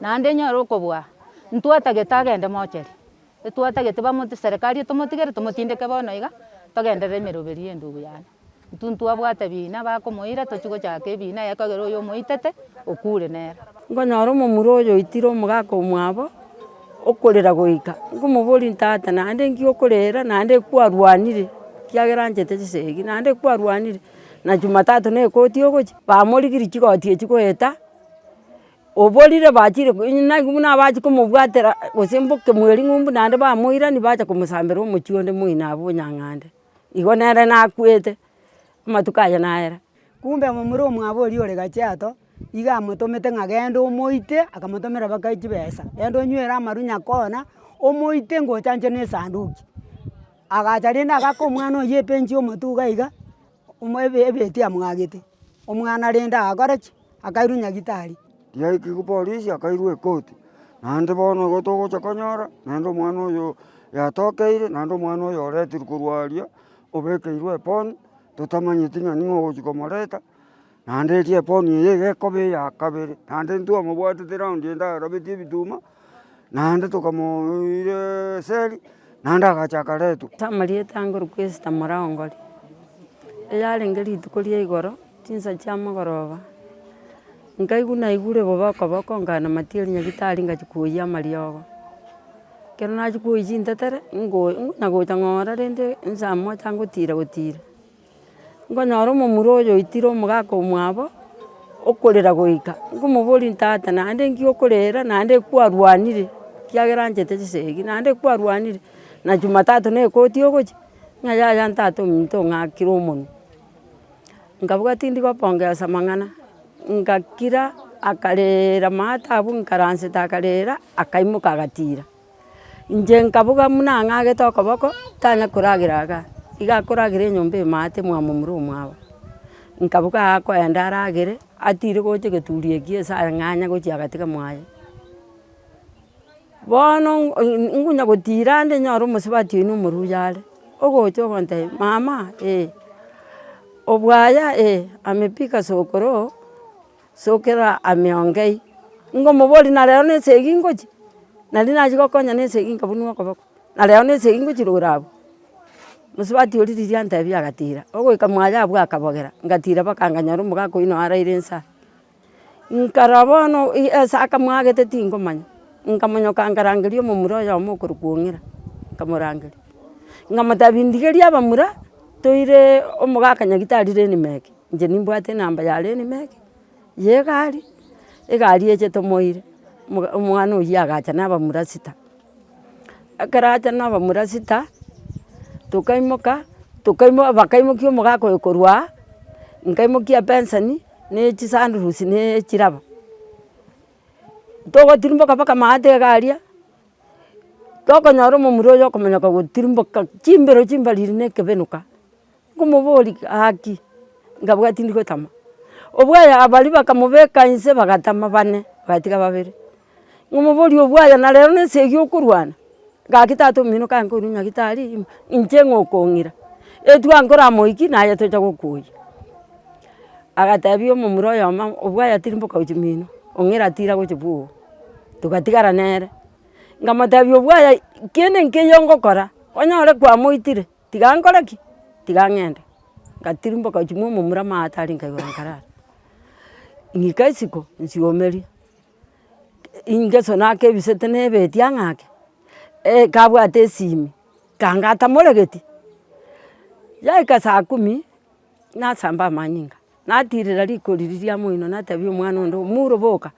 Naende nyore okobua, ntwatagete agende mocheri, etwatagete bamot serikari etomotigere tomotindeke bono iga, togenderere emeroberi ya endugu yane. Intwe ntwabwate ebina bakomoira tochie gochaka ebina yaye ekagera oyo omoitete okure nere. Nkonyora omomura oyo oitire omogaka omwabo, okorera goika, nkomoboria ntata naende nki okorera naende kwarwanire, ekiagera anchete chisegi naende kwarwanire, na jumatatu na ekoti ogochia, bamorigirie chigoti echio goeta, Oborire bachire nainwe buna abachi komobwatera gose mboke mweri ng'umbu naende bamoirani bacha komosambera omochie onde moino abwo nyang'ande. Igo nere nakwete, amatuko aye nayera. Kumbe momura omwabo oria ore Kajiado, iga amotomete ng'a genda omoite, akamotomera baka chibesa, genda onywere amaru Nyakona, omoite ngochanchwe na esanduki. Agacha rende agaka omwana oyio epench ya omotuga iga, Omo ebe ebeti amwagete, omwana rende agakora ki? akairwa nyagitari. Yaikigwa polisi akairwa ekoti, naende bono igo togocha konyora naende omwana oyo yatokeire naende omwana oyo oretirwe korwa aria, obekeirwe eponi, totamanyeti ng'a ning'o ogochi komoreta. Naende erio eponi eye egekoba eya kabere, naende intwe omobwatete raundi ende arabetie ebituma, naende tokamoira eseri, naende agacha akaretwa. Amarieta ange Orkwesita Muraongori, eyarenge rituko ria igoro chinsa chia mogoroba, nkaigwa naigure boboko boko nkanamatia erinyagitari ngachia koyia amariogo. Ekero nachia koyia chintetere, ingo- ingonya gocha ng'ora rende nsa moja ngotira gotira. Nkonyora omomura oyo oitire omogaka omwabo, okorera goika, nkomoboria ntata naende nki okorera naende kwarwanire, ekiagera anchete chisegi, naende kwarwanire, na jumatatu na ekoti ogochia, ng'a yaya ntata ominto ong'akire omonwe. Nkabuga tindi gopongesa amang'ana, ngakira akarera maata abwo, nkaransete akarera, akaimoka agatira. Inche nkaboga buna ang'agete okoboko tanya koragera iga, iga akoragera enyomba emate mwamo mura omwabo. Nkaboga akoenda aragere, atire gocha egeturi ekiya ase ang'anya gochia agatiga mwaye. Bono ngonya gotira ande nyore omosubati oino omoruya are, ogocha ogontebia mama eh, obwaya eh, amepika sokoro. Sokera ime ongei, ngomoboria na rero nense eyio ngochia, naria nachia gokonya nense eyio nkabunua okoboko, na rero nense eyio ngochia rogoro abwo. Mosubati oria riria antebia agatira, ogoika mwaye abwo akabogera, ngatira mpaka nkanyora omogaka oyio nao araire inse aa. Nkarora bono ase akamwagete tingomanya, nkamonyoka nkarangeria omomura oyomo okorokwa ong'ira, nkamorangeria. Nkamotebia ndigeria abamura, toire omogaka nyagitari reinima eke. Inche nimbwate enamba ya Lenimeki ye egari, egari eche tomoire, omwana oyio agacha na abamura sita. Ekero acha na abamura sita, tokaimoka, tokaimoka bakaimokia omogaka oyo korwa aa, nkaimokia ebenseni na echisandurusi na echiraba. Togotirimboka mpaka amaate iga aria, tokonyora omomura oyo okomonyoka gotirimboka chimbero chimbariri na ekebenuka. Nkomoboria gaki, nkabua tindi gotama. Obwaya baria bakamobeka inse bagatama bane, bagatiga babere. Nkomoboria obwaya na rero na esegi okorwana? Gaki tata omino kaye nkoirwa nyagitari ime, inche ng'a okong'ira. Etua nkora moiki naye tocha gokuoyia. Agatebia omomura oyomo, obwaya tiri mboka gochia mino, ong'ira tira gochia bwogo. Togatigara nere, nkamotebia obwaya kende nkeiyo ngokora, onyore kwamoitire, Tiga nkore ki? Tiga ng'ende. Ngatirimboka gochia momomura amagata tari nkaigura nkarara. Ng'ika isiko nsiomerie, ingeso naka ebisete na ebeetia ng'ake, kabwate esimi kangata moregeti. Yaika saa kumi nasamba amanyinga. Natirera rikori riria moino natebi omwana onde omuro boka,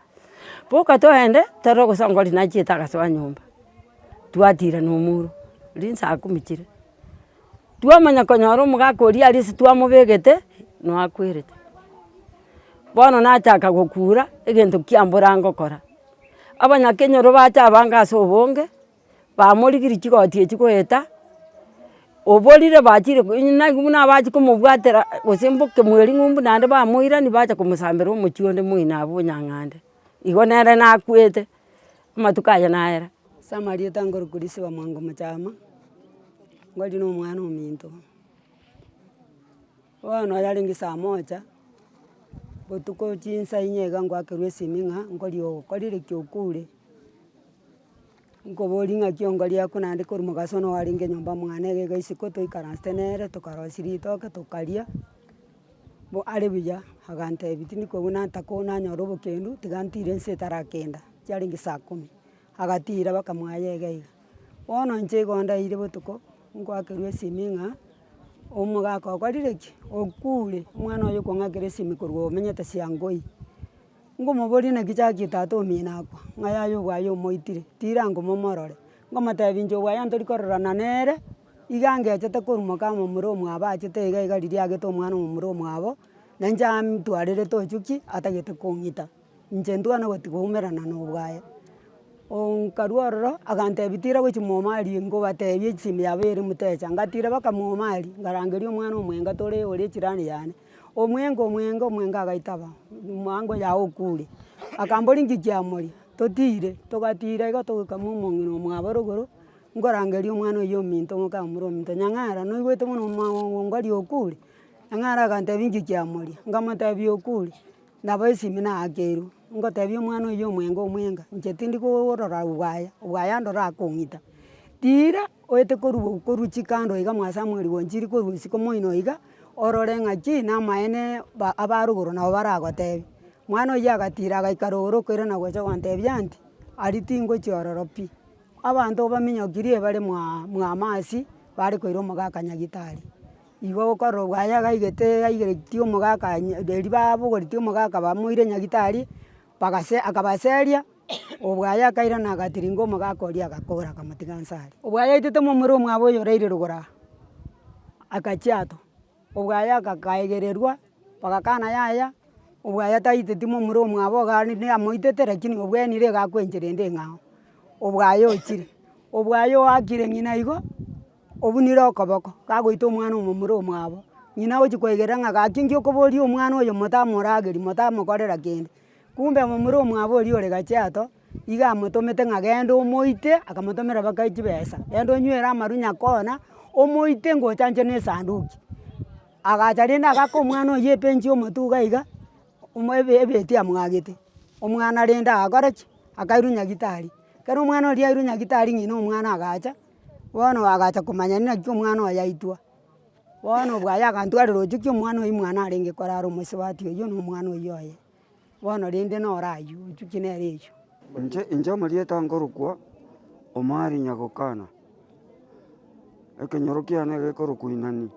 boka toende toro gosongwa ri nachiete agaso a nyomba. Twatira na omuro rinsaa kumi chire, twamanya konyora omogaka oria aria ase twamobegete no akwerete. Bono nachaka gokura egento kiambura ngokora. Abanya kenyoro bacha abange ase obonge. bamorigirie chigoti echio goeta, oborire bachire naki buna abachi komobwatera gose mboke mweri ng'umbu naende bamoirani bacha komosambera omochie onde moino abwo nyang'ande. Igo nere nakwete, amatuko aye nayera. Ase amarieta nkoria Christopher Mwango Mochama, nkoria nomwana ominto. Bono yarenge saa moja, botuko chinsa inye iga ngoakerwa esimi ng'a nkori okorire ki okure, nkoboria ng'aki onkoria ako naende kori mogaso one oarenge nyomba mwane iga iga isiko toikaransete nere tokarosia ritoke tokaria, bo are buya, agantebi tindi kobuna ntakoo nanyora obokendu, tiga ntire ense etarakenda, chiarenge saa kumi. Agatiira bakamoaya egaiga. Bono inche igo ndaire botuko ngwakerwe esimi ng'a omogaka okorire ki? Okure omwana oye okong'akera esimi korwa omenyete siankoi. Ngomoboria naki chakie tata omino akwa, ng'a yaya obwaye omoitire, tirango momorore. Ngomotebi inche obwaye ntori kororana nere, iga angechete korumoka omomura omwabo achete iga iga riria agete omwana omomura omwabo, na inche amtwarerete ochio ki? Atagete kong'ita. Inche ntwane gotigwa oumerana na obwaye, nkarwa ororo agantebi tira gochia momari ngobatebie chisimu yabo ere motecha, ngatira baka momari ngarangeria omwana omwega tore ore echirani yane, omwega omwega omwega agaitaba mambia oye aye okure, akambori inki kiamoria, totire, togatira igo togokama omong'ina omwabore igoro, nkorangeria omwana oyio ominto ng'oka omura ominto, nyang'ara noigwete buna omong'ina okure? Nyang'ara agantebi inki kiamoria? Nkamotebia okure. Nabo esimi naakerwe, ngotebia omwana oyio omwenge omwenge, inche tindi korora obwaya, obwaya ande orakong'ita. Tiira oete korwa oo korwa chikando iga mwa samueli gochiri korwa isiko moino iga, orore ng'aki na amaene ba abarugoro nabo baragotebie. Mwana oyio agatira agaikara igoro okoirana nagocha gotebia anti, aria tingochia ororo pi. Abanto baminyokirie bare mwaa mwamasi, bare koira omoga akanyagita aria. Igo gokorogwa aye agaigete aigeretie omogaka riria babogoretie omogaka bamoire nyagitari, bagase akabaseria, obwaye akairana agatiringa omogaka oria agakora akamotiga nse aria. Obwaya aitete momura omwabo oyo oraire rogoro aa, agachia ato, obwaye agakaegererwa, bagakana yaya, obwaye taiteti momura omwabo iga rende amoitete rakini obwenire iga akwencherende ing'ao, obwaye ochire, obwaye oakire ng'ina igo. obunire okoboko, gagoita omwana omomura omwabo, ng'ina agochia koegerera ng'a gaki enki okoboria omwana oyo motamorageri motamokorera kende, kumbe momura omwabo oria ore kajiado, iga amotomete ng'a genda omoite, akamotomera baka chibesa, genda onywere amaru nyakona, omoite ngochanchwe na esanduki. Agacha rende agaka omwana oyio ebench ya omotuga iga, omo ebe ebeti amwagete, omwana rende agakora ki? Akairwa nyagitari, ekero omwana oria yairwa nyagitari ng'ina omwana agacha. bono oagacha komanya naki omwana oye aitwa, bono bwaye agantwarera oche ki omwana oyi mwana arenge korara omosubati oywo na omwana oywo oye, bono rende noro aywo ochuki nere echwe. Inche inche omorieta nkorokwa omari nyagokana, ekenyoro kiane gekorokwa inani,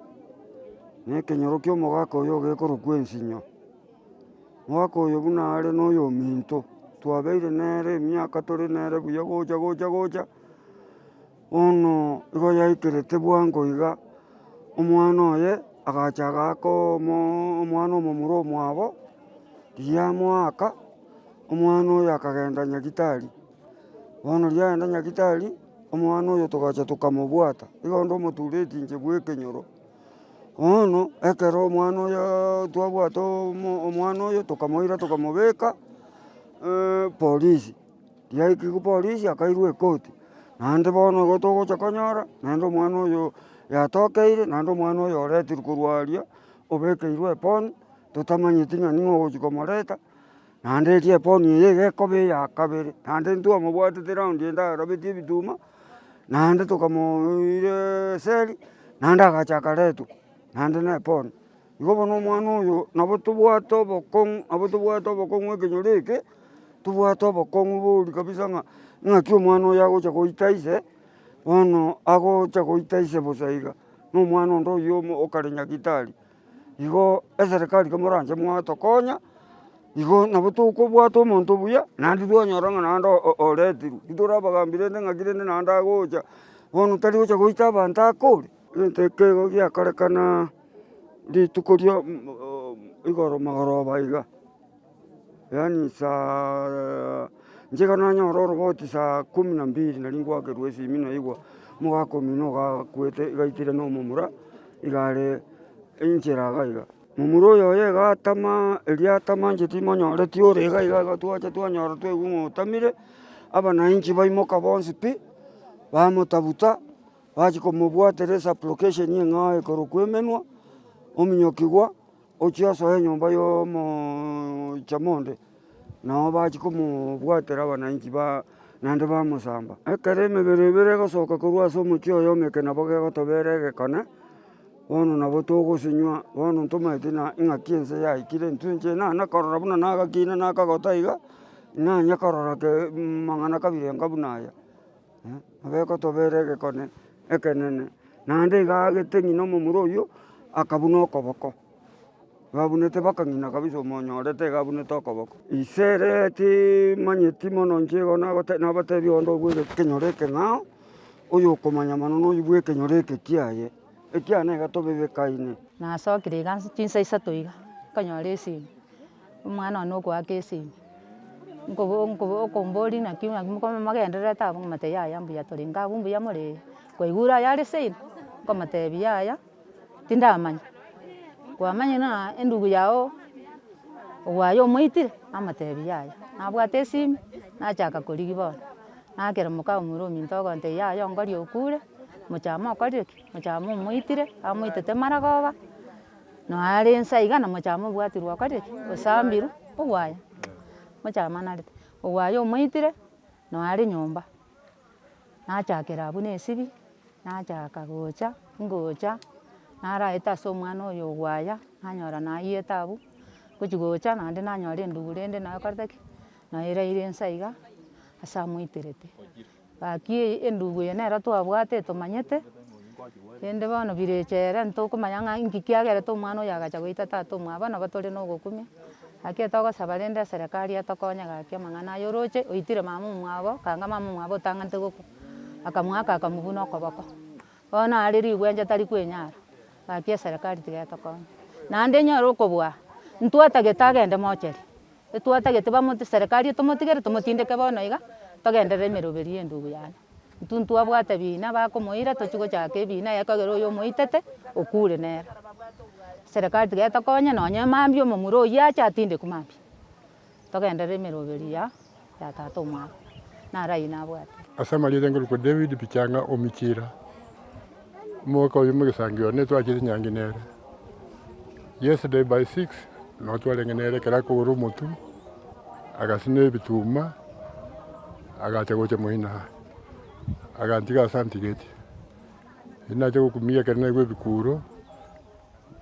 na ekenyoro kia omogaka oyo gekorokwa ensinyo, omogaka oyo buna are na oyominto, twabeire nere emiaka tore nere buya gocha gocha gocha. Bono igo yaikerete bwango iga, omwana oye agacha agakomo omwana omomura omwabo, riria amoaka, omwana oyo akagenda nyagitari, bono riria agenda nyagitari, omwana oyo togacha tokamobwata, igo onde omotureti inche bwa ekenyoro, bono ekero omwana oyoo twabwate omo omwana oyo tokamoira tokamobeka polisi. Riaikigwe polisi akairwa ekoti, naende bono igo togocha konyora naende omwana oyo yatokeire naende omwana oyo oretirwe korwa aria obekeirwe eboni totamanyeti ng'a ning'o ogochi komoreta, naende erio eboni eye iga ekoba eya kabere, naende ntwamobwatete raundi ende arabeti ebituma, naende tokamoiireeee eseli naende agacha akaretwa naende na eboni. Igo bono omwana oyo nabo tobwate obokong'u, nabo tobwate obokong'u ekenyoro eke, tobwate obokong'u bori kabisa ng'a ng'aki omwana oyo agocha goita ise, bono agocha goita ise bosa iga, na omwana onde oyio omo okare nyagitari. Igo eserekari komoranche mwatokonya, igo nabo tokobwata omonto buya, naende twanyora ng'a naende o- oretirwe, titore abagambi rende ng'aki rende naende agocha, bono tari gocha goita abanto ake ore, egento ekeigo giakorekana. rituko ria igoro magoroba iga, yaani saa nigo nanyora oroboti saa kumi na mbili nari ngoakerwa esimi naigwa omogaka omino ogakwete igaikire na omomura iga are enchera iga iga. Momura oyo oye iga atama erio atama inche timonyoreti ore iga iga iga twacha twanyora twaigwa ng'a otamire, abananchi baimoka bonsi pi, bamotabuta. Bachia komobwatera esupplication eng'ao ekorokwa emenwa, ominyokigwa, ochia osoe enyomba ya omochama onde, nabo bachia komobwatera abananchi ba naende bamosamba. Ekero emebere ebere egosoka korwa ase omochie oyomo eke nabo gegotobera egekone, bono nabo togosinywa, bono ntomaeti na ing'aki ense yaikire, intwe inche nane korora buna nagakina na akagota iga, nanye korora mang'ana kabere enga buna aya. Nabo egotobera egekone ekenene, naende iga aagete ng'ina omomura oyio, akabuna okoboko, babunete mpaka ng'ina kabisa omonyorete iga abunete okoboko. Ise ere timanyeti mono inche igo nagoteba nabatebi onde obwe ekenyoro ekeng'ao, oyokomanya mono noyo bwa ekenyoro eke kiaye, ekiagera niga tobebekaine. Nasokire iga chinsa isato iga, nkanyora esimi. Omwana one okoaka esegi, nkobo nkobo okombori naki naki mogendererete abwo ng'amate yaya mbuya torenge abwo mbuya moree, kwaigure aya are same, nkomotebi yaya tindamanya, kwamanya na endugu yago ogwaye omoitire, namotebi yaya, nabwate esimi, nachaka korigia bono, nakera moka omura ominto ogontebia yaya ongori okure, mochama okorire ki? Mochama omoitire, amoitete maragoba. Noare inse aiga nomochama obwatirwe okorire ki? Osambirwe ogwaye, mochama narete. Ogwaye omoitire noare nyomba, nachakera abwo na esibia, nachaka gocha, ngocha, naraeta ase omwana oyo ogwaya, nanyora nayete abwo, ngochi gocha naende nanyora endubu rende naekorete ki? Naeraire inse aiga ase amoiterete. Gaki eye endugu eye nero twabwate tomanyete, rende bono birecha ere ntokomanya ng'a inki kiagerete omwana oyo agacha goita tata omwabo nabo tore na ogokumia, gaki ere togosaba rende eserekari etokonye gaki amang'ana aya oroche oitire mama omwabo, kanga mama omwabo otang'anete gokwa, akamoaka akamobuna okoboko. Bono are rigwenja tari kwenyara. Gaki eserekari tiga etokonye. Naende enyore okobua. Ntwatagete agende mocheri. Etwatagete bamoti serekari etomotigere tomotindeke bono iga. Togenderere emeroberi ya endugu yane. Intwe ntwabwate ebina bakomoira tochi gochaka ebina yaye kagere oyo omoitete okure nere. Serekari tiga etokonye nonye mambia omomura oyio ache atindekwe mambia. Togenderere emeroberi ya ya tata omwabo, naro ayio nabwate. Ase amarieta ngorokwa David Pichanga Omichira, omoika oyomo egesangi oyo nigo twachire nyangi nere. Yesterday by six nabo twarenge nere ekero akogora omotu, agasina ebituma, agacha gocha moino aa, agantiga ase antigeti. Eri nache gokumia ekero naigwa ebikuro,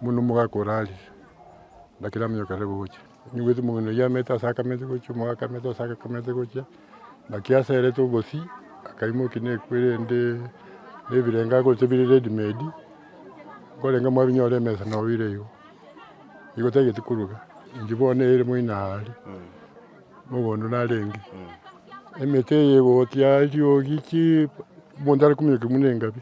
buna omogaka orarire, naki namanya ekero agocha. Onyigwete omogweno oyio amerete ase akamete gochia omoyo akamete ase akamete gochia naki aserete obosii akaimokia na ekwe rende na ebirengo agorete bire ready made nkorenga mwabinyora emesa na oire igo. Igo tagete koruga inche bono ere moino aare mogondo narenge emete eye gotia eriogi chii omonto are kominyokia buna engabi.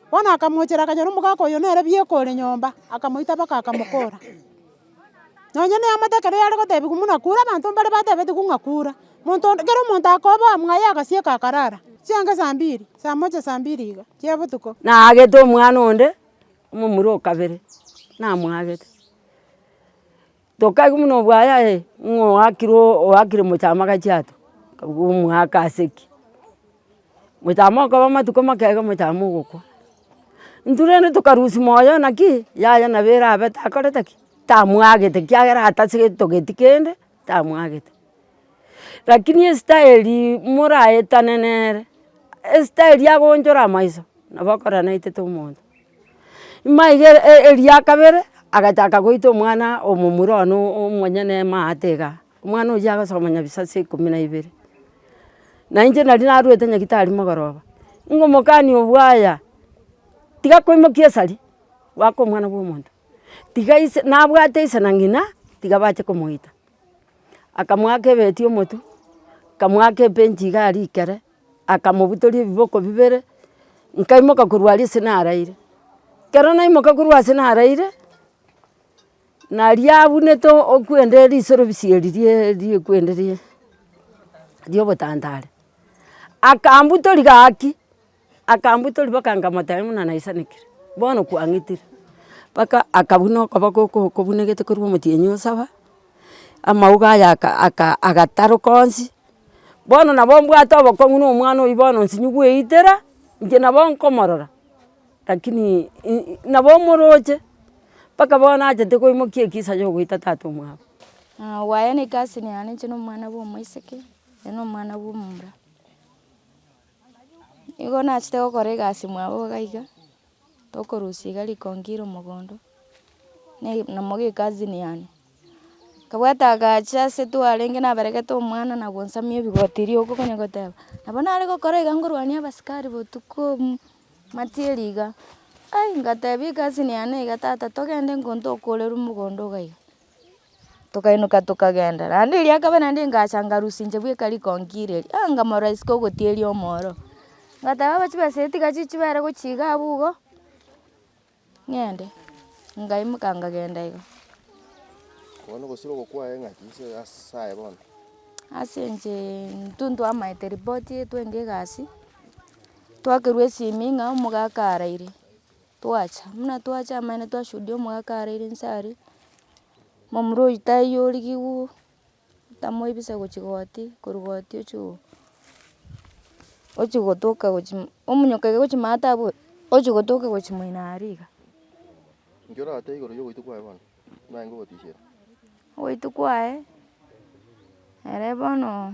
Bono akamochera akanyora omogaka oyo nere bieka ore nyomba, akamoita baka akamokora. Nonye neamate ekero yare gotebigwa muna kura abanto mbare batebetigwe ng'a kura, monto onde kera omonto akoboa mwaye agasieka akarara, chianga saa mbiri, saa moja saa mbiri iga chia botuko. Naagete omwana onde, omomura o kabere, namoagete. Tokaigwa buna obwayaye ng'a oakire oakire mochamaka chiato, kabuga omoaka ase ki? Mochame okoba amatuko make iga mochame ogokwa. Intwe rende tokarusia moyo naki yaya nabo erabe takorete ki? Tamwagete ekiagera atasitogeti kende tamwagete. Lakini esitaeri moraetane nere, esitaeri agonchore amaiso nabo okoranaetete omonto. Imaiga eria kabere agachaka goita omwana omomura one omonyene maate igaa, omwana oyio agasoma nyabisaku saa ikomi na ibere. Na inche nari narwete nyagetari mogoroba, ngomokani obwaya tiga koimokia esari goaka omwana bwa omonto, tiga ise nabwate ise na ng'ina tiga bache komoita. Akamoaka ebeti omotu, akamoaka ebench iga aria ikere. Akamobutoria ebiboko bibere, nkaimoka korwa aria ase naraire. Ekero naimoka korwa ase naraire, naria abunete okwende risorobisa eri riekwende rie riobotantare, akambutoria gaki, akambutoria mpaka nkamotebia buna naisanekire, bono kwang'itire. Mpaka akabuna okoboko oko okobunekete korwa omotienyi osaba. amauga aya agataroka onsi, bono nabo mbwate obokong'u na omwana oyio bono nsinyi gweitera, inche nabo nkomorora, lakini nabo omoroche, mpaka bono achete koimokia ekisa ya goita tata omwabo. Ng'a obaye ne egasi eye yane inche na omwana bwa omoiseke, oye na omwana bwa omomura. Igo nachete gokora egasi mwabo iga iga. tokorusia iga rikonki ire omogondo, ne- na moga ekazini yane, kabwate agacha ase twarenge naberegete omwana nabo nsamia erigoti erio igo okonya goteba, nabo nare gokora iga ngorwania abasikari botuko obuya, matieri iga, ai ngatebia ekazini yane iga tata togende ngonto okoreru mogondo iga iga. tokainyoka tokagenda, naende eria ya kabere naende engacha ngarusia inche bweka riko nkire eria, aah nkamorora isiko ogotieria omoro, ngateba aba chibesa tiga chichibere gochia iga abwo igo, ng'ende, ngaimoka nkagenda iga. Ase inche intwe ntwaamaete ripoti twenge egasi, twakerwa esimi ng'a omogaka araire. Twacha, buna twacha amaene twashuhudia omogaka araire inse aria, momura oyio taiyo origigwa tamoibisa gochia goti, korwa goti ochia oo, ochia gotoka gochia mo- omonyoka iga gochia maata abwo ochia gotoka gochia moino aria iga. Inche orate igoro yogoita kwaye bono, naye ngogotisiera. Ogoita kwaye, ere bono.